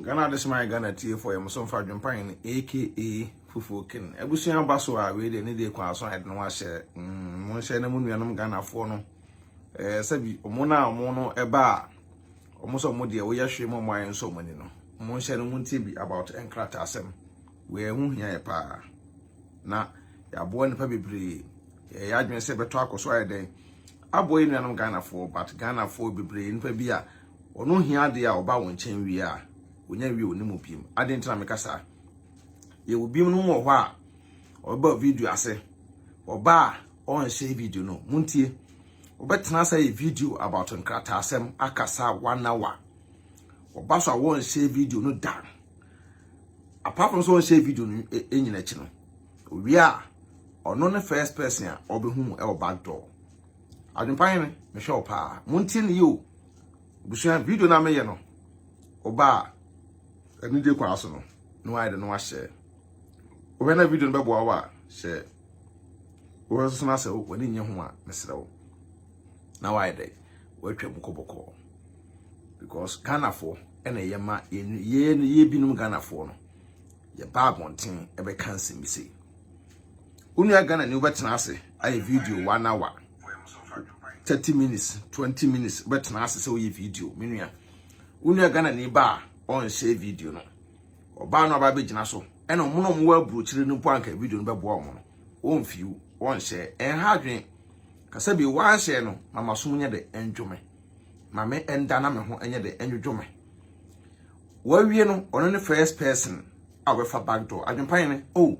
Ghana Adesom ayɛ Ghana tiefo yɛ mo so mfa dwempan no aka fufuo ken abusua ba so a wei deɛ ne deɛ kwan so a yɛde no ahyɛ mm, mo nhyɛ na mo nuanom Ghanafoɔ no ɛɛ eh, sɛbi ɔmo no a ɔmo no ɛba a ɔmo sɛ ɔmo deɛ woyɛ hwee mo ɔmo ayɛ nso ɔmo ani no ɔmo nhyɛ no mo ntie bi about nkrataa asɛm wei ɛho hia yɛ paa na yɛaboa nnipa bebree yɛyɛ adwene sɛ bɛtɔ akɔ so ayɛ dɛn aboa yɛ nuanom Ghanafoɔ but Ghanafoɔ bebree nnipa bi a Wɔn ho hia ade a ɔba wɔn nkyɛn wie a, wɔnya nwie wɔn mu biem. Adɛn nti na meka saa? Yɛwɔ binom wɔ hɔ a, ɔbɛba video ase. Ɔba a, ɔnhyɛ video no. Montie. Wobɛtena ase ayɛ video about nkrataasɛm akasa one hour. Ɔba so a, wɔnhyɛ video no da. Apart from sɛ ɔnhyɛ video no e, e, nyina akyi no, owie a, ɔno ne first person a ɔbɛhu mu wɔ back door. Adwempa hene mehwɛ wo paa. Montie ne yie o. Abusua video no a meyɛ no ɔbaa anigye kwan so no na wayɛ de no ahyɛ. Wohwɛ na video no bɛboa wo a hyɛ wohwɛ soso no asɛ w'ani nyɛ ho a mesrɛ wo na wayɛ dɛ watwa mu kɔbɔkɔɔ because Ghanafoɔ ɛna yɛ ma yɛ yɛ binom Ghanafoɔ no yɛba abɔnten ɛbɛka nsɛm bi sei. wo nua Ghana ni wobɛtena ase ayɛ video one hour thirty minutes twenty minutes wobɛtena ase sɛ woyɛ video me nua wo nua Ghana ni ba a ɔnhyɛ video no ɔbaa no aba bɛgyina so ɛna ɔmo na ɔmo wɔ aburokyire no mpo anka video no bɛboa ɔmo no ɔmfiw ɔnhyɛ ɛnha adwene kasa bi wanhyɛ no mama som nyɛ de ɛndwome ma me ɛnda na me ho ɛnyɛ de ɛndwodwo me Wawie no ɔno ne first person a ɔbɛfa back door. Adwempa Hene, oh,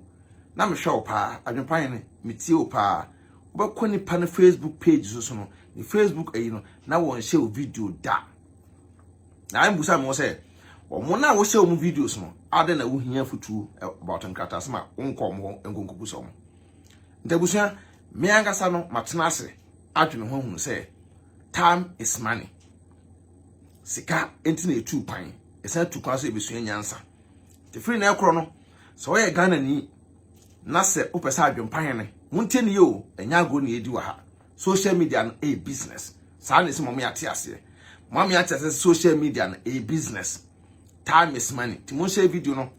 na mehwɛ wo paa, Adwempa Hene, metie wo paa. Wobɛkɔ nipa no Facebook page so so no, ne Facebook ayi no, na wɔnhyɛ wo video da. Na mbusa me wo sɛ, wɔn no a wohyɛ wɔn videos no, adɛn na wohia afutuo about nkratasɛm a wonkɔ wɔn hɔ nkɔ nkɔbusa wɔn? Nti abusua, me ankasa no matena ase adwene ho ahunu sɛ time is money. sika nti na etu kwan ɛsan tu kwan so ebesua nyansa te firi na ɛkorɔ no sɛ ɔyɛ ghana ni na sɛ wopɛ sɛ adwempa hene montie ne yɛ o ɛnyɛ agorɔ ne yɛdi wɔ ha social media no ɛyɛ business saa na ɛsɛ mɔme ate aseɛ mɔme ate aseɛ social media no ɛyɛ business time is money ti monhyɛ video no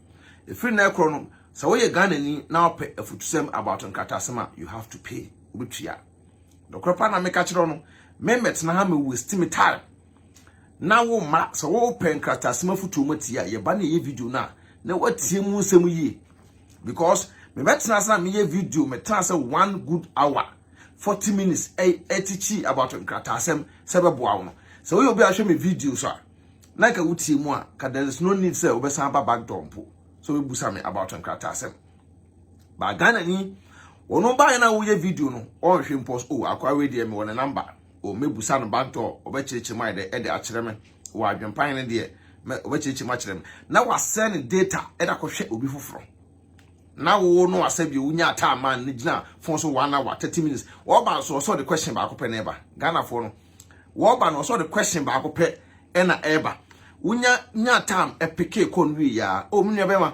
ɛfiri na ɛkorɔ no sɛ woyɛ ghana ni na wopɛ afutusɛm about nkratasɛm a you have to pay wobɛtua Nokorɛ paa na meka kyerɛ wo no, memmɛtena ha mmɛwasti me time. Na wo mma, sɛ wopɛ nkrataasɛm afotuo mu atie a, yɛba na yɛyɛ video no a, na woatie mu nsɛm yie. Because mebɛtena ase na meyɛ video, metena sɛ one good hour, 40 minutes, ɛtikyi about nkrataasɛm sɛ bɛboa wo no. Sɛ woyɛ obi a hwɛ me videos a, na nka wotie mu a, ka there is no need sɛ wobɛsan ba back door mpo sɛ wobɛbusa me about nkrataasɛm. ba Ghana ni wɔn baayɛ na woyɛ video no ɔnhwɛ mpo so oh akwa wei deɛ mewɔ ne namba o mɛbusa no bantɔ ɔbɛkyerɛkyerɛ mu ayɛ dɛ ɛde akyerɛ me wɔ adwempan no deɛ mɛ ɔbɛkyerɛkyerɛ mu akyerɛ me na wasɛ ne data ɛde akɔhwɛ obi foforɔ na wo no asɛ bi wonya ataa man ne gyina fon so one hour thirty minutes wɔba nso ɔsɛ ɔde question baako pɛ na ɛba Ghanafoɔ no wɔba no ɔsɛ ɔde question baako pɛ ɛna ɛba wonya nya time ɛpeke kɔn wie ya o menua bɛma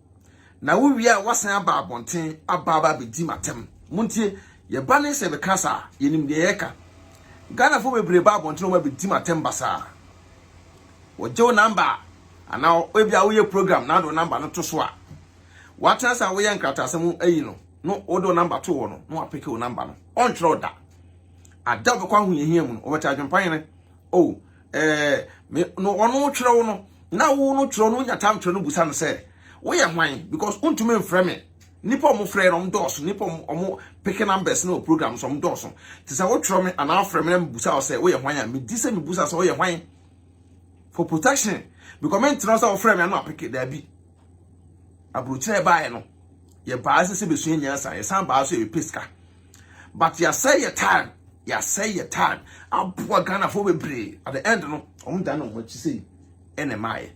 Na wo wie a wasan aba abɔnten aba aba abɛdi m'atɛm. Montie, yɛba ne sɛ yɛbɛka saa a, yɛnim deɛ yɛreka. Ghanafoɔ bebree ba abɔnten wɔn abɛdi m'atɛm basaa. Wɔgye wo namba a, anaa ebi a woyɛ program na wode wo namba no to so a, woatena sɛ a woyɛ nkrataasɛm ayi no, no wode wo namba to hɔ no, na wapeke wo namba no. Ɔntwerɛ da. Ada wobɛkɔ ahohiahia mu no, wɔbɛte adwempa hene. Oh, ɛɛ me no ɔno kyerɛw no na wo no kyerɛw no nya tam kyerɛ no busa no sɛ woyɛ hwan because wontumi mfrɛ me nipa ɔmo frɛ no ɔmo dɔɔso nipa ɔmo ɔmo peke numbers no program so ɔmo dɔɔso te sɛ wokyerɛw me anaa afrɛ me na mebusa wo sɛ woyɛ hwan a medi sɛ mebusa sɛ woyɛ hwan for protection because me ntena sɛ wɔfrɛ me ano apeke daabi aburokyerɛ baeɛ no yɛ baa sɛ sɛ bɛsua nyansa yɛsan baa so yɛ pɛ sika but yɛasɛe yɛ time yɛasɛe yɛ time aboa ghanafoɔ bebree at the end no wɔn dan wɔn akyi sei ɛna ɛmaayɛ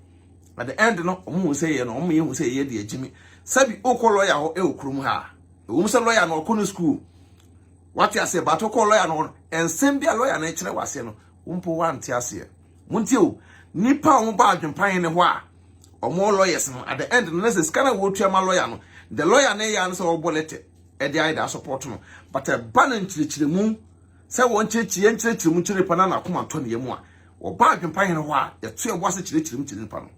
at the end no wɔn hu sɛ yɛ no wɔn yɛ hu sɛ yɛ deɛ gyimi sɛbi okɔ lɔya hɔ ɛwɔ kurom ha ɛwɔ mu sɛ lɔya no ɔkɔ no sukuu wate aseɛ but okɔ lɔya no hɔ no nsɛm bi a lɔya no ɛkyerɛ wɔ aseɛ no wɔn mpo wante aseɛ wɔn ti o nipa a wɔn ba adwempan ne hɔ a wɔn lawyers no at the end no na sɛ sika na wɔtua ma lɔya no the lɔya no yɛ ano sɛ ɔbɔ lɛtɛ. ɛde ayɛ daa support no but ɛba no nkyerɛkyerɛmu sɛ wɔn kyerɛkyerɛ yɛn kyerɛkyerɛ mu kyerɛ nipa na n'akoma ntɔ ne yam a wɔba adwempa hene hɔ a yɛto yɛn bo ase kyerɛkyerɛ mu kyerɛ nipa no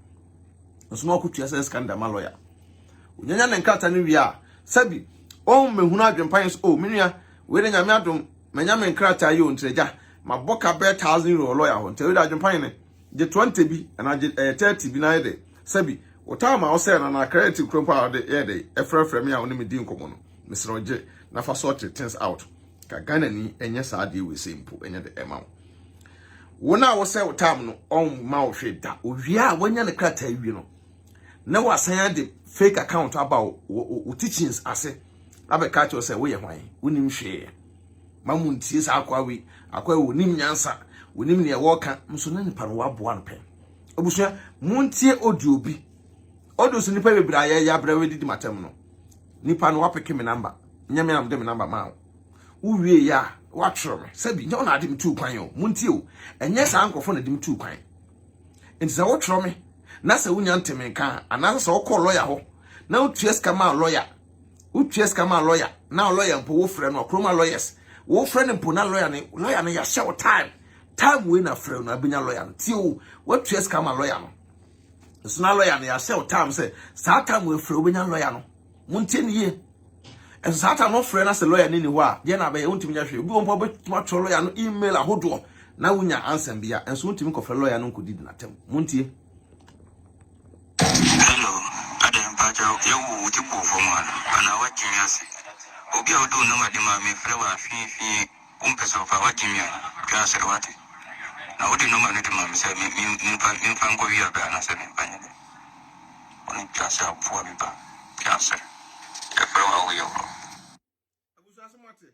nso na ɔkotua sɛ sika no dama lɔya onyanya ne nkrata no wie a sɛbi ɔn mehunu adwempa yɛn so o oh, menua wei de nyame adom manya me nkrataa yi o ntragya mabɔ ka bɛɛ thousand euro lɔya hɔ nti wei de adwempa yɛn gye 20 bi anaa gye 30 eh, bi na ayɛ dɛ Sɛbi, wotaa ma ɔsɛɛ no anaa kɛrɛɛte kura mpo a ɔde yɛ dɛn ɛfrɛfrɛ me a ɔne me di nkɔmmɔ no. Mesrɛ wo gye na fa sorte things out. Ka Ghanani ɛnyɛ saa adeɛ wei sei mpo ɛnyɛ dɛ ɛma wo. Wo no a wosɛɛ wo tam no ɔmma wo hwee da. Owie a wanya ne krataa wie no na wasan ade fake account aba wo teachings ase abɛka akyerɛ wo sɛ woyɛ hwan? Wonim hwee. Ma mo ntie saa akoa wei. Akoa wei onim nyansa. Onim nea wɔka. Nso na nipa no waboa no pɛn. Abusua, montie audio bi. Audio so nipa bebree ayɛ yɛ abrɛ wɔdidi matam no. Nipa no wapeke me namba. Nyɛ me am de me namba ma wo. Wo wie ya, watwerɛ me. Sɛbi, nyɛ wo na ade me tuu kwan o. Montie o. Ɛnyɛ saa nkurɔfoɔ na de me tuu kwan. Nti sɛ wotwerɛ me na sɛ wonya nte me nka a, anaasɛ sɛ wokɔɔ lɔya hɔ na wotua sika maa lɔya wotua sika ma lɔya na lɔya mpo wofrɛ no ɔkoroma lɔyɛs wofrɛ no mpo na lɔya no lɔya no yɛahyɛ wo time time wei na frɛ no abɛnya lɔya no tie o woatua sika ma lɔya no nso na lɔya no yɛahyɛ wo time sɛ saa time wei frɛ wobɛnya lɔya no montie no yie ɛnso saa time no frɛ no sɛ lɔya no ni hɔ a deɛ na abɛyɛ wontumi nya hwee obi wɔ mpo wobɛtumi atwerɛ lɔya no email ahodoɔ na wonya ansa bia ɛnso wontumi kɔfrɛ lɔya no nkɔdi di natam montie Hello, adɛn mpakyɛw yɛwo wo ti bɔ fam a anaa wagye me ase? Obi a ɔde wo number de maa me frɛ wo a fii fii wompɛ sɛ ɔfa wagye me a twa asɔre wate? Na wode number no de maa me sɛ me me memfa memfa nkɔ wia bɛ anaasɛ memfa nyɛ dɛ? Wone twa sɛ aboa bi ba twa asɔre yɛfrɛ wo a woyɛ worɔ. Abusua so moate?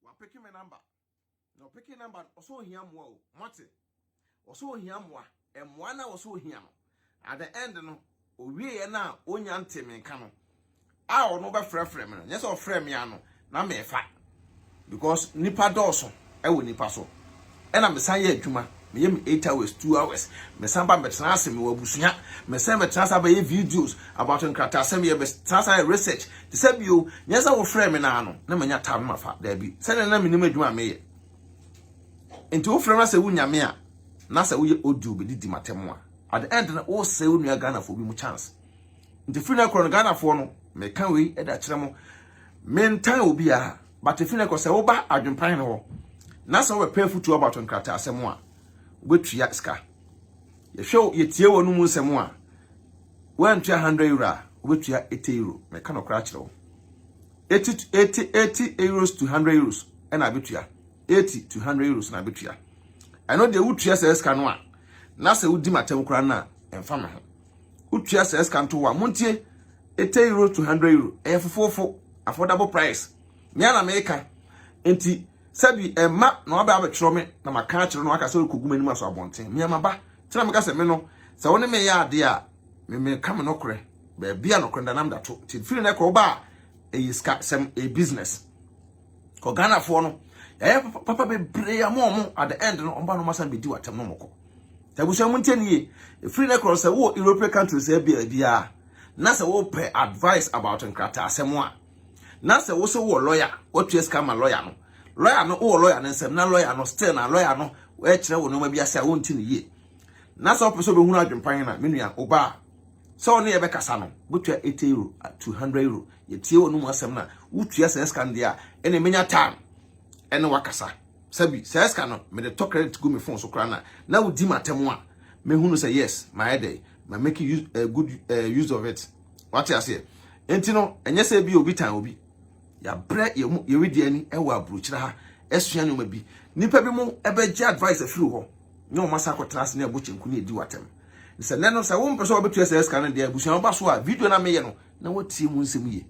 Wapeke me number. Na ɔpeke number no, ɔsɛ ohia mmoa o. Moate? Ɔsɛ ohia mmoa. Mmoa no a ɔsɛ ohia no, at the end no, owieɛ no a onya nte me nka no, a ɔno bɛfrɛfrɛ me no, nyɛ sɛ ɔfrɛ me a no, na mefa. Because nipa dɔɔso. wɔ nnipa so. Ɛna me san yɛ adwuma, me yɛ me eight hours, two hours, me san ba me tena ase me wɔ abusua, me san bɛ tena ase abɛ yɛ videos about nkrataasɛm yɛ bɛ tena ase ayɛ research, te sɛ bio, nyɛ sɛ wo frɛ me naa no na manya time ma fa, daabi, sɛ nea na me nim adwuma a me yɛ, nti wo frɛ me asɛ wo nya me a, na sɛ wo yɛ audio bɛ didi matem a, at the end no wo sɛ wo nua Ghanafoɔ bi mu chance, nti firi na korɔ no Ghanafoɔ no, me ka wei de akyerɛ mo, me ntan obiara. But efi nnɛ kɔ, sɛ woba Adwempan no hɔ na sɛ wobɛpɛ afutuo about nkrataa asɛm a, wobɛtua sika. Yɛhwɛ wo, yɛtie wo anom nsɛm a, woantua hundred euro a, wobɛtua eighty euro. Meka nokorɛ akyerɛ wo. Eighty to eighty, eighty euros to hundred euros ɛna abɛtua. Eighty to hundred euros na abɛtua. Ɛno deɛ wotua saa sika no a, na sɛ wodi m'atɛm koraa no a, ɛmfa me ho. wotua saa sika nto hɔ a montie eighty euro to hundred euro ɛyɛ fofofo affordable price me a na meka nti sɛbi ɛma na wabɛ abɛtwerɛ me na maka akyerɛ no aka sɛ ɔrekɔgu m'anim aso abɔnten me amaba tena meka sɛ me no sɛ wo ne meyɛ adeɛ a memeka me nɔkorɛ baabi a nɔkorɛ danam da to nti firi no ɛkɔ woba a ɛyɛ sika sɛm ɛyɛ business Kɔ Ghana foɔ no yɛayɛ papa bebree ama wɔn at the end no wɔn ba no wɔn asan bɛdi wɔn atɛm no wɔn kɔ abusua mu nkyɛn yie efiri ne korɔ sɛ wɔ European countries biara biara na sɛ wɔpɛ advice about nkrataa asɛm a na sɛ wɔsɛ wɔ lawyer wɔtua sika ma lawyer no lawyer no wɔ lawyer no nsɛm na lawyer no still na lawyer no ɛkyerɛ wɔ nneɛma bi ase a wɔnti no yie na sɛ wɔpɛ sɛ wɔbɛhunu adwempan na menua ɔbaa Sɛ ɔne yɛ bɛkasa no, wobɛtua eighty euro, two hundred euro. Yɛtie wɔn mu asɛm no a, wotua saa sika no deɛ a, ɛnna menya time ɛne wakasa. Sɛbi, saa sika no, mede tɔ credit gu me phone so koraa na, na wodi m'atɛm a, mɛhunu sɛ yes, mayɛ dɛn, ma make use, uh, good uh, use of it. Wate aseɛ? Enti no, ɛnyɛ sɛ ebi obi tan obi. Yɛabrɛ yɛn mu, yɛredi ani wɔ aburokyerɛ ha, asua nneɛma bi. Nnipa bi mo bɛgye advice afiri hɔ. ne wɔn asan akɔtena ase ne ɛbo kyenku ne edi watam ne sɛ nnɛ no sɛ wɔmpɛ sɛ wɔbɛtua saa sika no deɛ abusua ba so a video no a meyɛ no na wɔtie mu nsɛm yie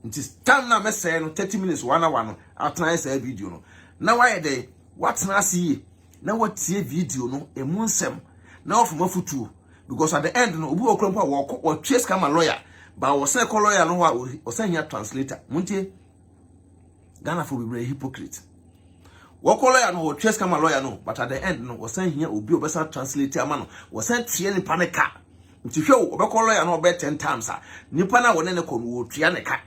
nti time no a mɛsɛe no 30 minutes one hour no atena ayɛ saa video no na wayɛ dɛn watena ase yie na watie video no ɛmu nsɛm na wɔfam afutuo because at the end no obi wɔ kura mpo a wɔkɔ wɔtwe sika ma lawyer ba wɔsɛ kɔ lawyer no hɔ a wɔsɛ hia translator montie Ghana for bebree hypocrite. Wɔkɔ lawyer no wɔtua sika ma lawyer no but at the end no wɔsan hia obi ɔbɛsan translate ama no wɔsan tua nipa ne ka. Nti hwɛ o ɔbɛkɔ lawyer no ɔbɛ 10 times a nipa na wɔne ne kɔ no wɔtua ne ka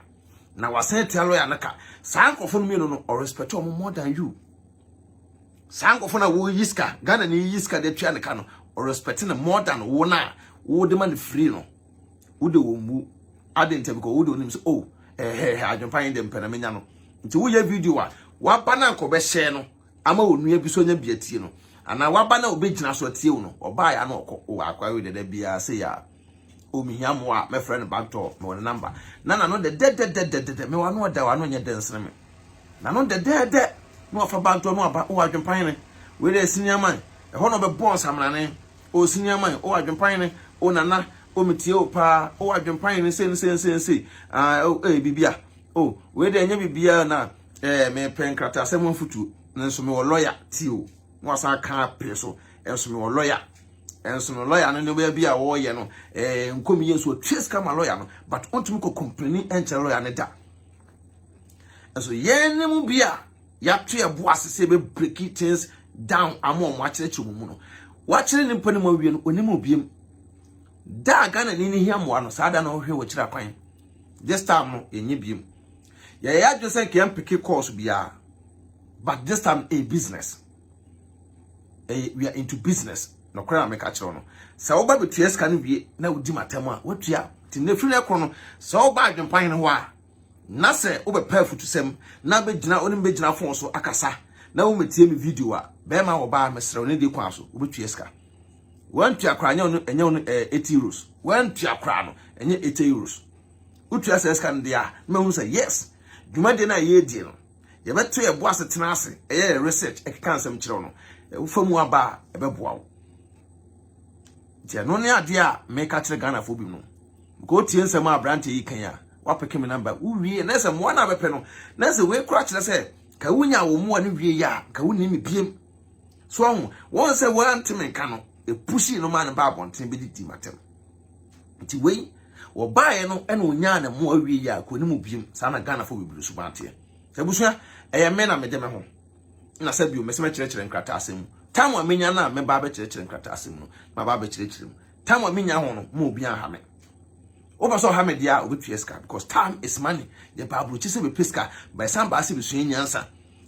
na wɔsan tua lawyer no ka. Saa nkurɔfo no mmienu no ɔrespect wɔn more than you. Saa nkurɔfo na wɔyi sika Ghana ni yi sika de tua ne ka no ɔrespect no more than wɔn a wɔde ma no free no. wode wɔn mu ade ntɛm kɔ wode onim sɛ oh ɛhɛhɛ eh, adwempa yɛn dɛm pɛ na menya no nti woyɛ video a waba no anka ɔbɛhyɛ no ama onua bi so anya bi atie no anaa waba no a ɔbɛgyina so atie wo no ɔbaa ya no ɔkɔ wɔ akwae dɛdɛ biara sɛ yɛ a ɔmehia oh, mmoa a mɛfrɛ no bantɔ mewɔ ne namba na nano dɛdɛdɛdɛdɛdɛ mewɔ ano ɔda wɔ ano nyɛ dɛ nsene me nano dɛdɛdɛ na wafa bantɔ no aba wɔ adwempa yɛn wei dɛ sini aman ɛhɔ na ɔbɛbɔ nsamanane O Siniaman, O Adwempanyene, O Nana, O metie o paa, O Adwempanyene sei ne sei ne sei ne sei, aah o ei biribia, o wei deɛ ɛnyɛ biribia o na eh mepɛ nkrataasɛm ho afotuo nanso mewɔ lɔya ti o na wasan aka pere so nso mewɔ lɔya nso no lɔya no nneɛma bi a wɔreyɛ no eh nkomi yɛ nso ɔtua sika ma lɔya no but ɔntumi kɔ kɔmpleni nkyerɛ lɔya no da nso yɛn ne mu bi a Yɛato yɛn bo ase sɛ yɛbɛ breaki things down ama wɔn akyerɛkyerɛ wɔn mu no. Wakyerɛ ne nipa no mu awie no, onim obiem. Da a Ghana ni no hia mmoa no, saa da no hwɛ wɔkyerɛ akwan. This time no, yɛnyɛ biem. Yɛyɛ adwene sɛ nka yɛn peke course biara. But this time no, ɛyɛ business. Ɛyɛ, we are into business. Nɔkorɛ na meka kyerɛ no. Sɛ woba bɛtua sika no wie na wodi m'atam a, woatua. Nti ne firi no ɛkorɔ no, sɛ woba adwempa hene hɔ a, na sɛ wobɛpɛ afutusɛm na abɛgyina wo ne me bɛgyina fon so akasa na womɛtie me video a bɛrima a ɔbaa mesrɛ wo ne deɛ kwan so wobɛtua sika wantua koraa ɛnyɛ ɔno ɛnyɛ ɔno ɛɛ eighty euros wantua koraa no ɛnyɛ eighty euros wotua sɛ sika no deɛ a na mahunu sɛ yes dwumadie no a yɛredie no yɛbɛto yɛbo ase tena ase ɛyɛ yɛ research ɛkeka nsɛm kyerɛ wo no wofa mu aba a ɛbɛboa wo nti ɛno ne adeɛ a meka kyerɛ Ghanafoɔ bi no Nka otie nsɛm a aberanteɛ yi kan a, wapeke me number. Wo wie na sɛ mmoa no a bɛpɛ no, na sɛ wei kora kyerɛ sɛ ka wo nya wo mmoa no wie yɛ a, ka wo nim me biem. So ɔho, wɔn sɛ wɔn ante me nka no, epushii no maa no baa abɔnten bɛdidi matam. Nti wei, wɔbaeɛ no ɛna onyaa ne mmoa wie yɛ a, ka onim wo biem. Saa na Ghanafoɔ bebree suban teɛ. Sɛ abusua, ɛyɛ me na mede me ho. Na sɛ bio, mese mɛkyerɛkyerɛ nkrataasɛm mu. Time a menya no a mɛba abɛkyerɛkyerɛ nkrataasɛm no, maba abɛkyerɛkyerɛ mu. Time a menya ho no, mo obi anha me. Wopɛ sɛ ɔha me deɛ a, obetua sika because time is money. Yɛ ba aburokyi sɛ bɛpɛ sika, bɛsan baa sɛ bɛsua nyansa.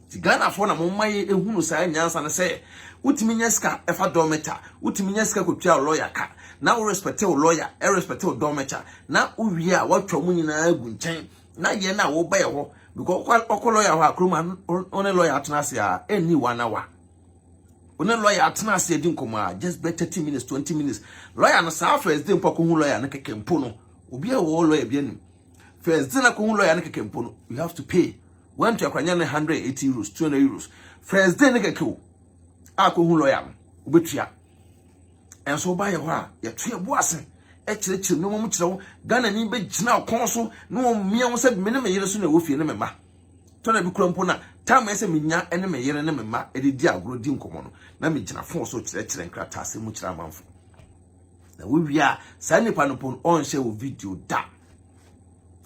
Ti Ghanafoɔ na mo mma yɛ ehunu saa nyansa no sɛ wotumi nya sika ɛfa dɔmɛkya, wotumi nya sika kɔtua wo lɔya ka, na wo respɛte wo lɔya, ɛrespɛte wo dɔmɛkya, na wowie a woatwa ɔmo nyinaa agu nkyɛn, na yɛn a woba yɛ hɔ, because wokɔ lɔya hɔ a kurom ha, wo ne lɔya atena ase a, ɛnni wo anawa. wo ne lɔya atena ase adi nkɔmmɔ a just bɛ thirty minutes twenty minutes lɔya no saa first day mpo akɔhu lɔya no kɛkɛ mpo no obi a wɔwɔ lɔya bi anim first day no akɔhu lɔya no kɛkɛ mpo no you have to pay wɔn to akwanya no hundred and eighty euros two hundred euros first day no kɛkɛ o a akɔhu lɔya no wobɛtua ɛnso woba yɛ hɔ a yɛto yɛ bo ase ɛkyerɛkyerɛ nneɛma mu kyerɛ wo ghana ni bɛgyina ɔkɔn so na wɔmmia wo sɛ me ne me yere so na ɛwɔ fie ne me ma Tɔda bi koraa mpo na taa ma ɛyɛ sɛ minya ne me yere ne me mma de di agorɔ di nkɔmmɔ no, na migyina fon so kyerɛkyerɛ nkrataasɛm mu kyerɛ amanfo. Na wowie a, saa nipa no mpo no, ɔnhyɛ wo video da.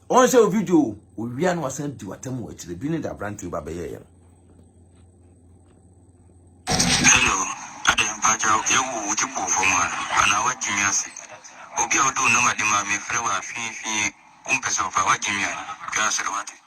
Ɔnhyɛ wo video, owie a na wasan di w'atam wɔ akyire. Bi ne de aberanteɛ ba bɛyɛeɛ no. Hello, Adam mpakyɛ yɛwo wo ti bɔ fam a anaa wagye me ase? Obi a ɔde wo nɔma de ma me frɛ wo a fii fii wompɛ sɛ ɔfa wagye me a twa soro wate.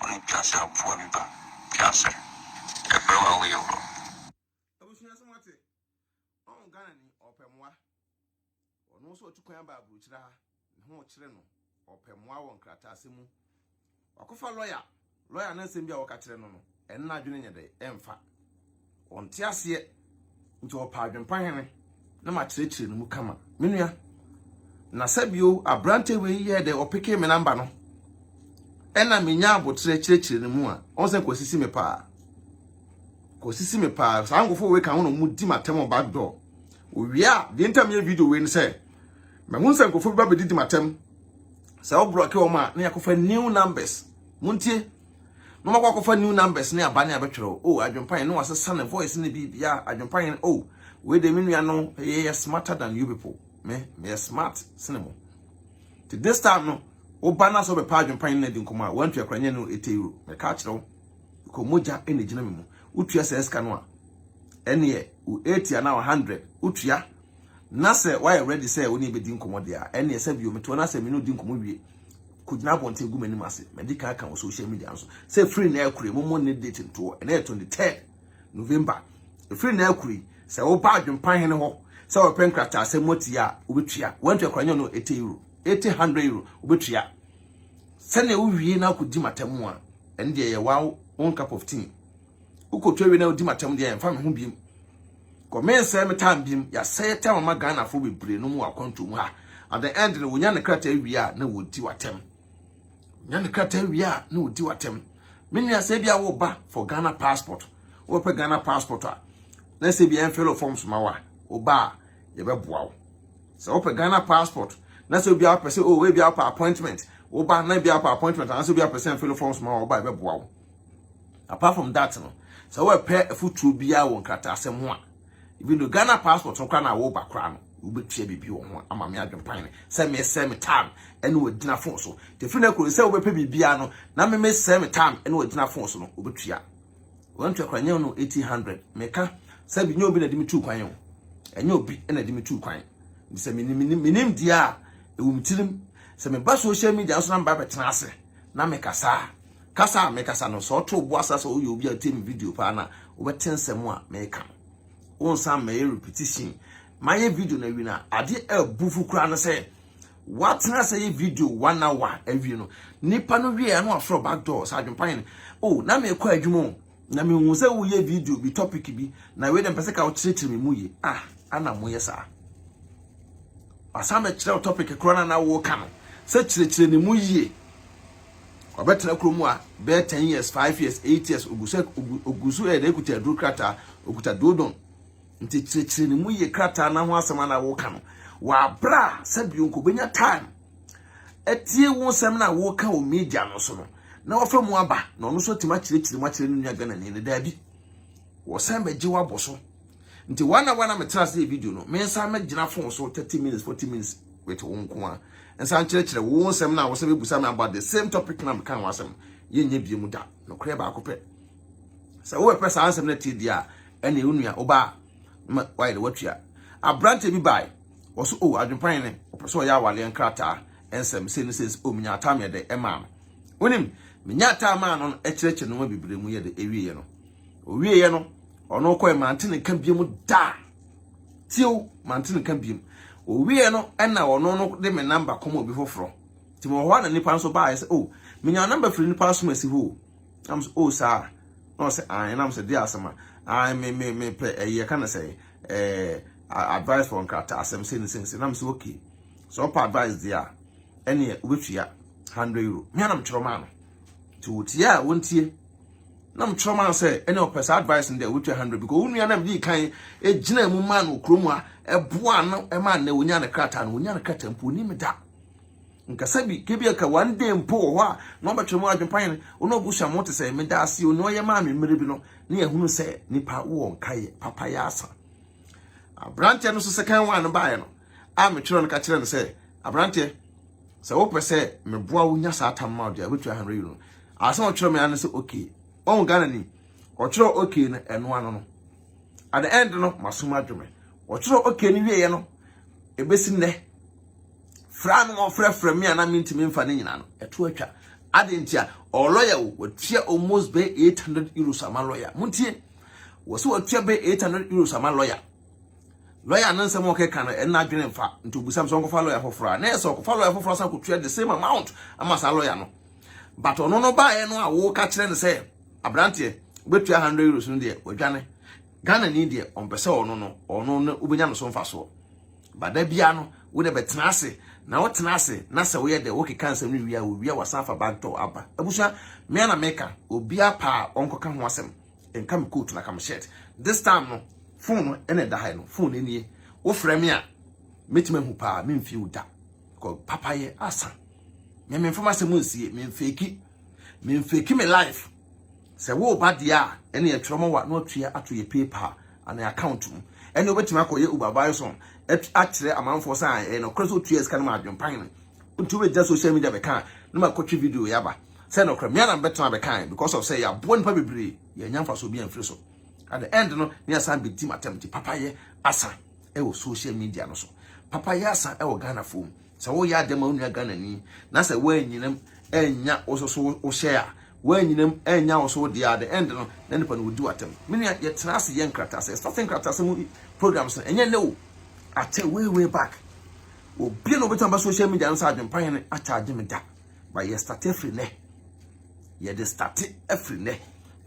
Wo ne Piase aboa bi ba. Piase, yɛfrɛ wo a woyɛ wura. Abusua sɛ moate? Ɔho Ghana ni ɔpɛ moa. Ɔno nso ɔtu kwan aba aburukyire ha. Ne ho rekyere no. Ɔpɛ moa wɔ nkrataasɛm mu. Wakɔfa lɔya. Lɔya no nsɛm bi a wɔka kyerɛ no no. Ɛno n'adwene nyɛ dɛ ɛmfa. Ɔnte aseɛ, nti ɔpɛ adwempa hene na makyerɛkyerɛ no mu kama. Me nua, na sɛbio aberanteɛ wei yɛɛ dɛ ɔpekee me namba no, ɛna menya aboterɛ kyerɛkyerɛ no mu a, ɔhu sɛ Kwasi si me paa. Kwasi si me paa, saa nkɔfoɔ wei ka ho na ɔmu di m'atɛm wɔ back door. Owie a, deɛ ntam yɛ video wei no sɛ, mahu sɛ nkɔfoɔ bi ba bɛdidi m'atɛm, sɛ wobrɔke wɔn a, na yɛakɔfa new numbers. Montie. na ɔmakɔ akɔfa new numbers ne aba ne abɛtwerɛ o oh, adwempa yɛn ne wasesa ne voice ne biribia adwempa yɛn o oh, wei de me nua no yɛ yɛ smarter than you people me meyɛ smart sene mo nti this time no woba no sɛ wobɛpa adwempa yɛn no adi nkɔmmɔ a wantua kora nyɛ no ɛte euro meka akyerɛ wo kɔ mogya ɛna gyina me mu wotua sɛ sika no a ɛneɛ wo 80 anaa 100 wotua na sɛ woayɛ ready sɛ wo ne bɛdi nkɔmmɔ deɛ a ɛneɛ sɛ bio metoɔ no asɛ me ne wodi nkɔmmɔ wie kɔgyina abɔnten agu m'anim ase na di kan aka wɔ social media nso sɛ firi na akure mommɔ ne date ntoɔ ɛnɛ yɛ 23 November ɛfiri na akure sɛ woba adwempa hene hɔ sɛ wɔpɛ nkrataa sɛ moatia a wobɛtua wantua kora nyɛ no 80 euro 800 euro wobɛtua sɛnea wowie na akɔdi matamu a ɛne deɛ yɛ wow one cup of tea Wokɔtwa wie na wodi m'atam deɛ ɛmfa me ho biem. Kɔ mensɛe me tam biem. Yɛasɛe tam ama Ghanafoɔ bebree nom wɔ akwantuo mu ha. At the end no, wonya ne krataa wie a na wɔdi w'atam. Wonya ne krataa wie a na wɔdi w'atam. Me nua sɛ bi a woba for Ghana passport. Wobɛpɛ Ghana passport a na sɛ bi ɛmfɛlɛ forms ma wa woba a yɛbɛboa wo. Sɛ wopɛ Ghana passport na sɛ bi a wopɛ sɛ oh ebi a wopɛ appointment woba na bi a wopɛ appointment anaasɛ bi a wopɛ sɛ ɛmfɛlɛ forms ma wa woba a yɛbɛboa wo. apart from that no sɛ wɔpɛ afutuo biara wɔ nkrataa asɛm ho a even though Ghana passport no koraa na wɔba koraa no wobɛtua biribi wɔ ho ama me adwempan no sɛ mesɛ me time ɛne wɔgyina fon so tɛfiri no kuro sɛ wobɛpɛ biribiara no na me mesɛ me time ɛne wɔgyina fon so no wobɛtua wɔntua koraa nyɛ no 1800 meka sɛ bi nyɛ obi na de me tuu kwan o ɛnyɛ obi na de me tuu kwan sɛ menim deɛ a ɛwɔ me tirim sɛ meba social media nso na meba bɛtena ase na mekasa Kasa a mekasa no, sɛ ɔto wo bo asa sɛ woyɛ obi a wotie me video paa no a, wobɛte nsɛm a meka no. Wonsan mmɛyɛ repetition. Mayɛ video no awie no a, adeɛ a ɛbu fo koraa ne sɛ, woatena ase yɛ video one hour awie no, nipa no wie a na wafrɛ wo back door sɛ Adwempa hene, o na mekɔ adwuma o, Na me hu sɛ wo yɛ video bi topic bi na wei dɛ mpɛ sɛ ka wo kyerɛkyerɛ me mu ye ah ana mo yɛ saa wasan bɛ kyerɛ topic koro na na wo ka no sɛ kyerɛkyerɛ ne mu yie ɔbɛtena kuro mu a bɛyɛ ten years five years eight years ogusɛ ogusu ɛdɛ ekuta aduru krataa okuta duodon nti kyerɛkyerɛ ne mu yie krataa na ho asɛm na wo ka no wabra sɛ bi onkobenya time atie wo nsɛm no a woreka wɔ media no so no na wafa mu aba na ɔno nso atumi akyerɛkyerɛ mu akyerɛ ne nua Ghanani no daabi wɔsan bɛgye wabɔ so nti wana wana metra ase video no me nsa mɛgyina fon so 30 minutes 40 minutes with wo nko a nsa nkyerɛkyerɛ wo nsɛm no a wɔsɛ bɛbusa me about the same topic na meka ho asɛm yɛnyɛ bie mu da nokorɛ baako pɛ sɛ wobɛpɛ saa nsɛm no atie deɛ a ɛne wo nua wobaa ma wayɛ de watua aberante bi bae Ɔse oh adwenpan ne ɔpɛ sɛ ɔyɛ awaleɛ nkrataa nsɛm sei ne sei oh menya ataa me yɛde ɛmaa no wonim menya ataa maa no no ɛkyerɛkyerɛ nnoɔma bebree mu yɛde ɛwieɛ no ɔwieɛ no ɔno kɔɛ mante ne nka biem da tio mante ne nka biem ɔwieɛ no ɛna ɔno no de me namba kɔma obi foforɔ nti mewɔ hɔ a na nipa nso baa ɛsɛ oh menya namba firi nipa asom asi hɔ nam sɛ oh saa na ɔsɛ an nam sɛ de asɛm a an me me me pɛ ɛyɛ ka ne sɛ ɛɛ advice for nkrataasɛm sei ne sei ne sei na mese okay sɛ ɔpɛ advice deɛ a ɛneɛ wobɛtua 100 euro me a na mekyerɛ maa no nti wɔtie a wɔntie na mekyerɛ maa sɛ ɛne ɔpɛ saa advice no deɛ wobɛtua 100 because wo nua na mede kan ɛgyina mu maa no kurom a ɛboa no ɛma nnɛ wɔnya ne krataa no wɔnya ne krataa mpo ɔnim da nkasa bi kebi aka one day mpo wɔ hɔ a na ɔbɛtwerɛ mu adwempa yɛn ɔno abusua mo te sɛ meda ase ɔno ɔyɛ maa me mmerɛ bi no ne ɛhunu sɛ nipa wɔ nkaeɛ papa yɛ asa aberanteɛ no so second one no baeɛ no a metwerɛ no ka kyerɛ no sɛ aberanteɛ sɛ wopɛ sɛ meboa wo nya saa tam ma wo deɛ wobɛtua 100 euro asɛm ɔtwerɛ me ano sɛ okay ɔhu ghana ni ɔtwerɛ okay no ɛno ano no at the end no masom adwome ɔtwerɛ okay no wieɛ no ɛbɛsi nnɛ fra no ɔfrɛfrɛ me a na mentumi mfa no nyina no ɛto atwa ade ntia ɔlɔya wo wɔtua almost bɛ 800 euros ama lɔya montie Wɔ sɛ ɔtua bɛ 800 euros ama lɔya. Lɔya no nsɛm a ɔkeka no ɛna adwene mfa. Nti obisam sɛ ɔnkɔfa lɔya foforɔ a. Na ɛsɛ ɔkɔfa lɔya foforɔ asan akɔtua the same amount ama saa lɔya no. But ɔno no baeɛ no a woka kyerɛ no sɛ abranteɛ wobɛtua 100 euros no deɛ wadwane. Ghana ni deɛ ɔmpɛ sɛ ɔno no ɔno no wobɛnya no so mfasoɔ. But da biara no wo deɛ bɛtena ase na wotena ase na sɛ woyɛ dɛ wokeka nsɛm no wie a wowie a wasan afa bag tɔ aba. Abusua me ara na meka obiara pɛ a ɔnkɔka ho asɛm. Nka me coat na ka me shirt. This time no phone no ɛna ɛda ha no phone nie. Wofrɛ me a mɛtumi ahu paa memfie wo da. Because papayɛ asa. Me memfa m'asɛm nsie memfeki. Memfeki me life. Sɛ wo ba deɛ a ɛne yɛtwerɛ ma wa na watua ato yɛ PayPal anaa account mu. Ɛne wobɛtumi akɔyɛ Uber Bison akyerɛ amanfoɔ sɛ ɛyɛ nɔkorɛ sɛ wotua sika no ma adwempan no. Nti wobɛgyina social media bɛka a na makɔtwe video yi aba. sɛ nokorɛ me ara na mebɛtena abɛkan because of sɛ yɛaboa nnipa bebree yɛannya mfasoɔ biara amfiri so at the end no ne asan bɛdi m'atɛm nti papayɛ asa ɛwɔ social media no so papayɛ asa ɛwɔ Ghanafoɔ mu sɛ woyɛ adeɛ ma wo nua Ghanani na sɛ woanyinam ɛnya wo so so wohyɛ a woanyinam ɛnya wo so deɛ at the end no na nipa no wɔdi w'atɛm me nua yɛtena ase yɛ nkratasɛ starting nkratasɛ mu programs no ɛnyɛ nnɛ o akyɛ way way back obi na obɛtumi ba social media no sɛ adwempa hene akyɛ agye me da Ba yɛ starte firi nɛ. Yɛde starte firi nɛ.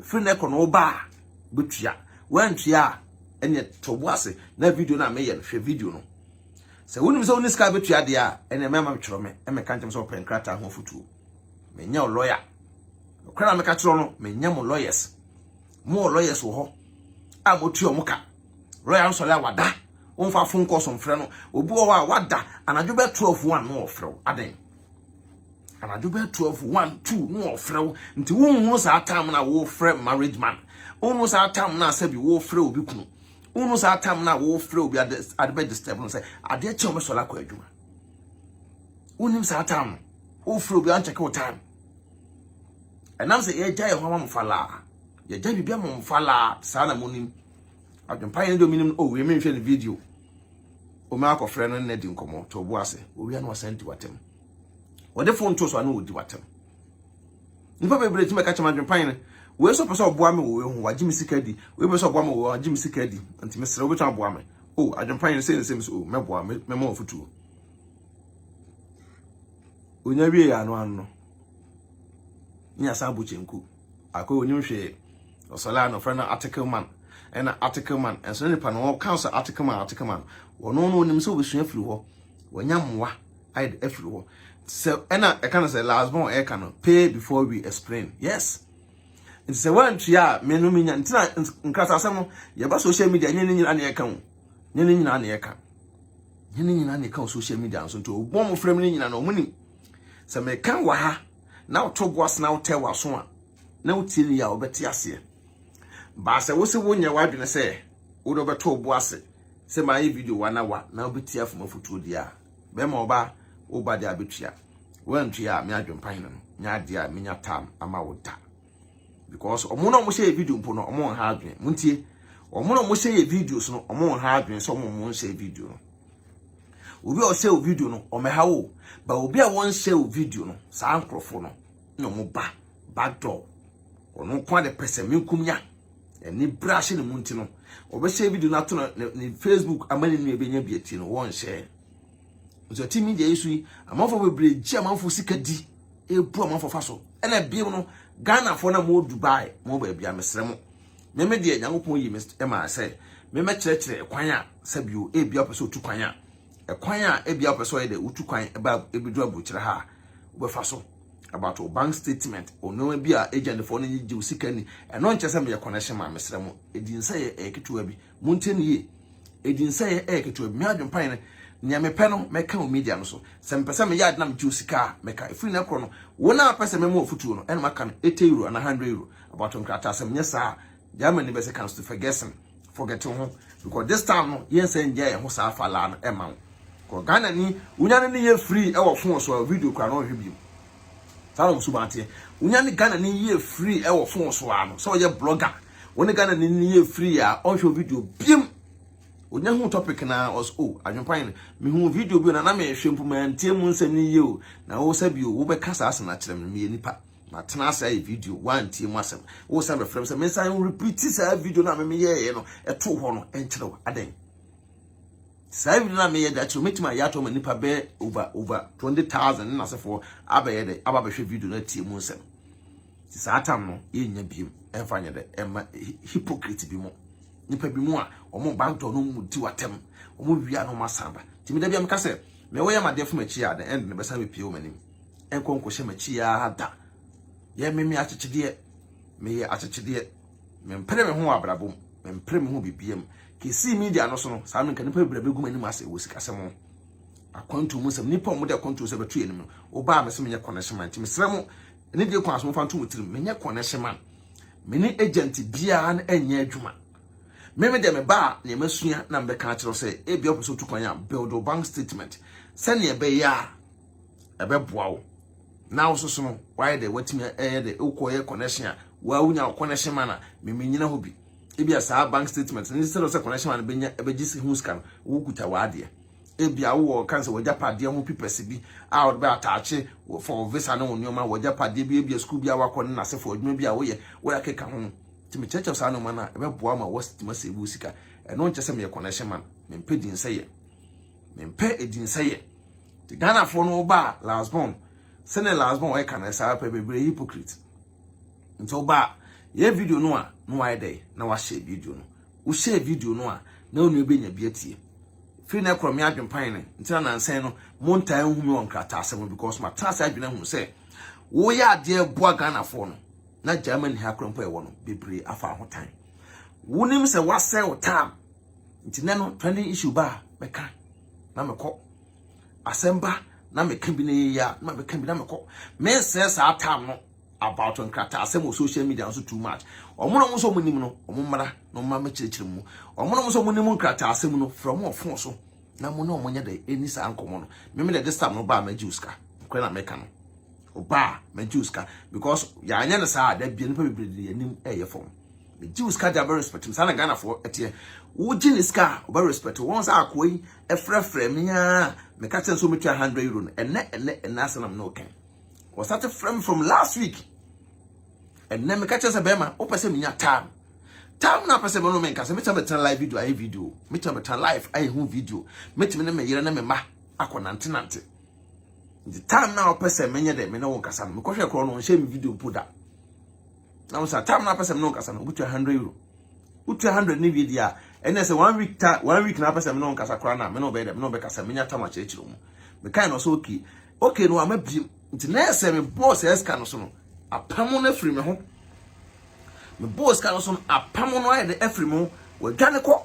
Firi nɛ kɔ no woba a bɛtua. Woantua a ɛneɛ to bo ase na video no a meyɛ no hwɛ video no. Sɛ wonim sɛ wonni sika bɛtua deɛ a ɛneɛ mɛma metwerɛ me meka nkyɛm sɛ wɔpɛ nkrataa ho afotuo. Menyɛ wo lɔya. Nokora na meka kyerɛ no menyɛ mo lɔyɛs. Mo wɔ lɔyɛs wɔ hɔ a motua ɔmo ka. Lɔya nsɔre a wada womfa fon kɔɔso mfrɛ no. Obi wɔ hɔ a wada anadwo bɛɛ 12 wo ano ɔfrɛ wo adɛn? anadwo bɛyɛ twelve one two na ɔfrɛ wo nti wonhunu saa tam na wofrɛ marriage man wonhunu saa tam na sɛbi wofrɛ obi kunu wonhunu saa tam na wofrɛ obi ade ade bɛ disturb no sɛ adeɛ kyɛn ɔbɛsɔre akɔ adwuma wonim saa tam no wofrɛ obi ankyɛke wo tam ɛnam sɛ yɛgya yɛn ho ama mo falaa yɛgya biribi ama mo falaa saa na monim adwempa yɛn deɛ ɔmenim o wei menhwɛ ne video Wɔn akɔfrɛ no nna di nkɔmmɔ, to bo ase. Owia na wasan di w'atam. Wɔde fon to so a na wɔdi w'atam. Nnipa bebree tumi ka kyɛm adwempan no. Wei nso pɛ sɛ ɔboa me wɔ wei ho, wagye me sika di. Wei pɛ sɛ ɔboa me wɔ wei ho, wagye me sika di. Nti mesrɛ wo, wobɛtumi aboa me? O, oh, adwempan no sɛ nsɛm so, o, oh, mɛboa, mɛma wɔn afotuo. Onya wie yɛ ano ano no, ne yɛasan abɔ kyenku. Akor onnyim hwee. Ɔsɛlɛɛ a na ɔfrɛ no article man. Nna article man nnsɛ nyimpa na ɔka ɔsɛ article man article man. Ɔno no ɔnyim sɛ obesua afir hɔ. Oenya mboa ayɛ dɛ afir hɔ. Sɛ nna ɛka no sɛ last born ɛka no pay before we explain. Yes. Ntsi sɛ wɔanntua a me no menya ntsi na nkratasɛm no yɛba social media nye ne nyina na yɛka o. Nye ne nyina na yɛka. Nye ne nyina na yɛka wɔ social media no so ntsi ɔbɔn mo frɛ me no nyina no ɔmo nyim. Sɛ meka wɔ ha na woto bo ase na wotɛ w'aso a na wotie wie a wobɛte aseɛ. Baa sɛ wo se wonyɛ w'adwene sɛ wode wobɛto bo ase sɛ maayɛ video wa na wa na wobɛtie afom afotuo deɛ a bɛrima ɔbaa woba deɛ a bɛtua. Woantua a me adwempa hene no nyɛ adeɛ a menya tam ama wo da. because ɔmo na ɔmo hyɛ video mpo no ɔmo nha adwene mo ntie ɔmo na ɔmo hyɛ yɛ videos no ɔmo nha adwene sɛ ɔmo ɔmo nhyɛ video no obi a ɔhyɛ o video no ɔmɛha wo ba obi a wɔnhyɛ o video no saa nkorɔfo no na ɔmo ba back door ɔno nko ade pɛsɛ me nkum nya ɛni bra hyɛ ne mu nti no ɔbɛhyɛ video no ato ne facebook ama ne nua bɛnya bi ati no wɔnhyɛ Nso ɛte media yi so yi, amanfoɔ bebree gye amanfoɔ sika di, ebu amanfoɔ fa so. Ɛna ebiem no, Ghanafoɔ na mo Dubai, mo baabi a mesrɛ mo. Meme deɛ Nyankopɔn yi me ɛma sɛ memɛkyerɛkyerɛ ɛkwan a sɛbio ebia wopɛ sɛ otu kwan a ɛkwan a ebia wopɛ sɛ ɔyɛ dɛ wotu kwan ɛba ebedu aburokyerɛ ha wobɛfa so about o bank statement o nneɛma bi a agentfoɔ no nye gye wo sika ni ɛno nkyɛ sɛ meyɛ connection ma mesrɛ mo ɛdi nsɛ yɛ ɛyɛ ketewa bi Montie no yie, Edinsɛeɛ yɛ ketewa bi. Me adwene pa yɛ no, Nea mepɛ no, mɛka wɔ media no so. Sɛ mepɛ sɛ meyɛ ade na megye wo sika a, mɛka. Ɛfiri nnɛ korɔ no, wo no a wopɛ sɛ mɛma wo afotuo no, ɛna maka no, eighty euro anaa hundred euro. Abatoɔ nkrataa, Sɛ menyɛ saa a, Germany bɛsɛ Kanzler Fergessen, forget wo ho, because this time no, yɛnsan nnya yɛn ho saa fa laa no ɛmma wo. Because Ghanani, wonya no ne yɛ free ɛwɔ phone so a, video koraa no ɔnhwɛ biom. Saa na wɔn suban teɛ. Wonya ne Ghanani yɛ free ɛwɔ phone so a no, sɛ ɔyɛ blogger, Wo ne Ghana ni no yɛ free a ɔnhwɛ wo video biem. Onya hu topic na ɔs o adwempan no mehu video bi na na mehwɛ mpo mantie mu nsɛm no yie o na wo sɛ bio wobɛka saa asɛm no akyerɛ me meyɛ nipa matena ase ayɛ video woantie mu asɛm wo sɛ bɛfrɛ m sɛ mensan repeat saa video no a memeyɛeɛ no ɛtoo hɔ no ɛnkyerɛ wo adɛn saa video no a meyɛ de akyerɛ mɛtumi ayɛ ato ma nipa bɛɛ over over 20000 ne nasefoɔ abɛyɛ dɛ aba bɛhwɛ video no atie mu nsɛm saa tam no yɛnya biem ɛmfa nyɛ dɛ ɛma hypocrite bi mu nipa bi mu a wɔn ba ntɔ no mu di watɛm wɔn wia no masan ba tìmi dɛbi ameka sɛ mɛ wɔyɛ ma deɛ fam akyi a the end no bɛsan bɛpie wɔn anim ɛnkɔ nkɔhyɛ ma akyi a da yɛ meme akyekyedeɛ meyɛ akyekyedeɛ mempere me ho wɔ abrabɔ mu mempere me ho bibiam kesi media no so no saa menka nipa bebree bɛgu m'anim ase wɔ sikasɛm ho akwantu mu nsɛm nipa wɔn de akwantu sɛ bɛtu yɛn anim no wɔbaa mɛ sɛ menyɛ connection man nti mesrɛ mo Ɛno deɛ kwan so momfa nto mo tirim, menyɛ connection man, me ne agent biara no nyɛ adwuma. Me me deɛ meba a nea masua na mebɛka akyerɛ wo sɛ ebia wopɛ sɛ wotu kwan a build wo bank statement sɛnea ɛbɛyɛ a ɛbɛboa wo na wo soso no wayɛ dɛ watumi ɛyɛ dɛ wokɔyɛ connection a waa wonya wo connection man a memenyina hɔ bi ebia saa bank statement no sɛ sɛ connection man no bɛnya ɛbɛgye ho sika no wokuta w'adeɛ Ebia wowɔ kan sɛ w'agyapadeɛ ho pipɛse bi a wode bɛ ataakye for wo visa ne wo nneɛma, w'agyapadeɛ bi, ebia sukuu bi a woakɔ ne n'asefoɔ, adwuma bi a woyɛ, wo ɛkeka ho. Nti mekyerɛkyerɛ saa nneɛma no a, ɛbɛboa ma woatumi asave wo sika. Ɛno nkyɛ sɛ meyɛ connection man, mempɛ dinsɛyɛ. Mempɛ dinsɛyɛ. Nti Ghanafoɔ no woba a, last born, sɛnea last born ɛka no saa pɛ, bebree hypocrite. nti ɔba a yɛ video no a na wayɛ dɛ na wahyɛ video no wohyɛ video no a na wo nua bɛnya bi atie firi na ɛkorɔ me adwempan no nti na nansɛn no montaa nhu me wɔ nkrataasɛm no because matena ase adwene ahunu sɛ woyɛ adeɛ boa ghanafoɔ no na germany ha korɔ mpo ɛwɔ no bebree afa ahotan wonim sɛ wasɛ wo tam nti nɛ no trending issue ba a mɛka na mekɔ Asɛm ba na meka bi na ɛyɛ yie a, na meka bi na mekɔ. Mensɛe saa time no about nkrataasɛm wɔ social media nso too much. Wɔn na wɔn nso wɔn nim no, wɔn mmra na wɔn ma kyerɛkyerɛ mu. Wɔn na wɔn nso wɔn nim nkrataasɛm no, frɛ wɔn wɔ phone so na mo ne wɔn nyɛ dɛ ɛni saa nkɔmɔ no. Meme na this time no baa mɛgye osika. Nokorɛ na meka no. Obaa mɛgye osika because yɛanyɛ no saa a, da bia nipa bebree de yɛn anim ɛyɛ fam. Megye osika de abɛ respect mu. Saa na Ghanafoɔ ɛteɛ. Wogye ne sika a, ɔbɛ respect wo. Wɔn sɛ akoa yi. frɛfrɛɛ me ara a meka kyerɛ no sɛ ɔmɛtua 100 euro no ɛnɛ ɛnɛ ɛnɛ asɛm na me ne wo kan wɔsate frɛ me from last week ɛnɛ meka kyerɛ sɛ bɛrima wopɛ sɛ menya tam tam na apɛ sɛ mɛno menka sɛ mɛtumi bɛtena live video ayɛ video mɛtumi bɛtena live ayɛ ho video mɛtumi ne me yere ne me ma akɔ nante nante nti tam na wopɛ sɛ menyɛ dɛ me ne wo nkasa no mekɔhwɛ korɔ no ɔnhyɛ me video mpo da na mo sa tam na apɛsɛm no nkasa no obutua 100 euro wotua 100 ne wie dia ɛnɛ sɛ one week ta one week na apɛsɛm no nkasa kora na me no bɛyɛ dɛ me no bɛkasa menya tam akyerɛkyerɛ mu mekan no so okay okay no ama biem nti na ɛsɛ me bɔɔ sɛ ɛska no so no apam no afiri me ho me bɔɔ sika no so no apam no ayɛ dɛ afiri me ho wadwane kɔ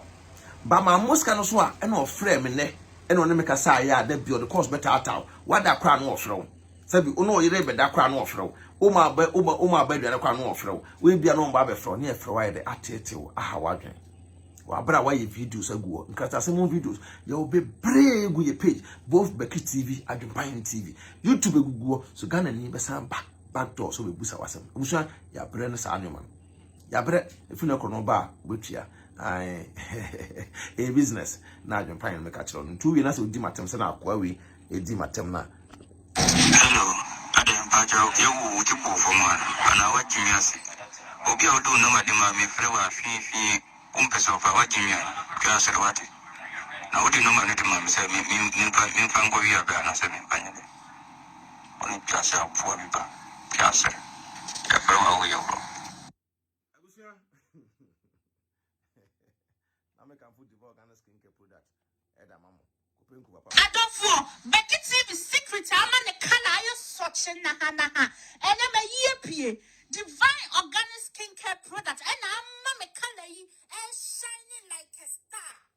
ba ma mo sika no so a ɛna ɔfrɛ me nɛ ɛna ɔne me kasa ayɛ a da bi ɔde kɔɔso bɛtaataw wada kora no ɔfrɛ wo Sɛbi wo ne wo yere rebɛda koraa na ɔfrɛ wo, woma aba woma woma aba aduane koraa na ɔfrɛ wo, woebia na ɔmba abɛfrɛ wo na ɛfrɛ wo ayɛ dɛ ateetee wo, aha w'adwen. Wɔ aber a wɔayɛ videos agu hɔ, nkrataasɛm ho videos, yɛwɔ beberee egu yɛ page, both Bɛkye TV, Adwempaahen TV, YouTube egugu hɔ, so Ghanani bɛsan ba back door sɛ obebusa wo asɛm. Ebusua, yɛabrɛ no saa nneɛma no. Yɛabrɛ, efi no kɔ no ɔba a, obetua. Ae, ɛyɛ business na Adwempaahen no meka kyerɛ no, ntu wie na sɛ odi m'atem sɛ na akoa wei Edi m'atɛm na. Hello, adɛn mpakyɛw yɛwo wo ti bɔɔ fam a anaa wagye me ase? Obi a ɔde wo nam ade ma me frɛ wo a fii fii wo mpɛ sɛ ɔfa wagye me a twa asɔre wate? Na wode nɔma no de ma me sɛ me me memfa memfa nkɔ wia bɛ anaa sɛ memfa nyɛ dɛ? Wo ne twa sɛ aboa bi ba twa asɔre yɛfrɛ wo a woyɛ worɔ. Abusua. Na me kamfo Diva Organic Skin Care product. Eda mamo. Kopenku papa. Adofo, Becky TV secret ama ne ka na ayɛ sɔkye nahanaha. Ɛnɛ mayi apue. Divine Organic Skin Care product ɛna ama me color yi ɛshine like a star.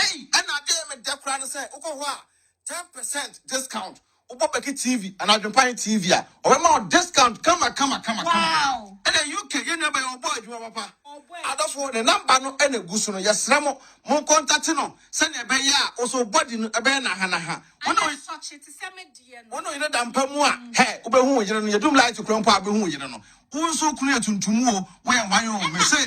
Ei ɛna adee me dɛ koraa ne sɛ wokɔ hɔ a ten percent discount wobɔ bɛki TV anaa adwempan TV a ɔbɛma wo discount kama kama kama kama ɛna UK yɛn nuabaa yi ɔbɔ adwuma papa adɔfo ne number no ɛna egu so no yɛsrɛ mo mo kɔntate no sɛnea ɛbɛyɛ a wo so body no ɛbɛyɛ naha naha wo ne wo ne yere da mpa mu a hɛ wobɛhu wo yere no yɛdum light kura mpo a wobɛhu wo yere no wo nso kunu yɛ tuntum o woyɛ hwan o mese.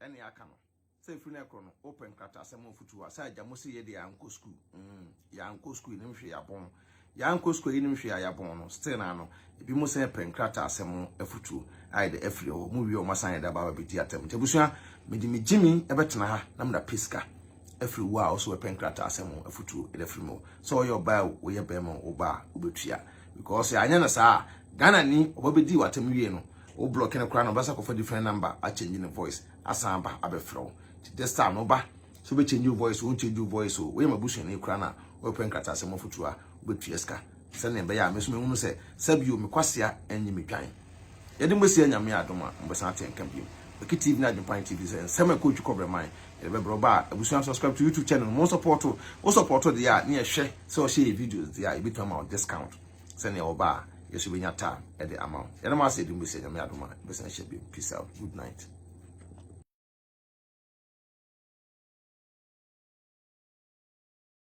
Ɛnneɛ aka no sɛ ɛfiri no korɔ no wopɛ nkrataasɛm ho afotuo a, sɛ agya mo se yɛ deɛ yɛankɔ sukuu, mm, yɛankɔ sukuu yɛnim hwee yɛabɔn, yɛankɔ sukuu yɛnim hwee a yɛabɔn no, still naa no, ebi mo sɛ pɛ nkrataasɛm ho afotuo a yɛde afiri hɔ, mo wie wɔn asan yɛde aba abɛdi atam. Nti abusua, mede me gyimi ɛbɛtena ha na mena pɛ sika afiri wo a ɔso ɛpɛ nkrataasɛm ho afotuo ɛde afiri mu. Sɛ ɔyɛ ɔbaa o, ɔyɛ bɛrima o, ɔbaa wobɛtua. Because anyɛ no saa a Ghana ni ɔba bɛdii w'atam wie no wo blocki no koraa na ɔbɛsa kɔfa different number a change ne voice asan aba abɛfrɛ wo nti this time no ba sɛ wobɛ change wo voice o won change wo voice o woyɛ m'abusuani koraa na wobɛpɛ nkrataasɛm afotuo a wobɛtua sika sɛnea ɛbɛyɛ a me nso mɛhunu sɛ sɛbio me kwasea anyi me dwan. Yɛde mo asie Nyame adom a mobɛsan ate yɛn nka bio. Baki TV ne Adwempan TV sɛ nsɛm a ɛkɔ ɔtwi kɔ Brɛman yɛde bɛbrɛ wo ba a Abusua subscribe to YouTube channel no mo nsɔpɔɔto wo sɔpɔɔto deɛ a ne yɛhwɛ sɛ ɔhyɛ yɛ videos deɛ a yɛbɛtumi ama wo discount sɛnea wo ba a yɛ nso bɛnya time de ama wo. Yɛde mo ase yɛde mo asie Nyame adom a yɛbɛsan ahyia bio. Peace out. Good night.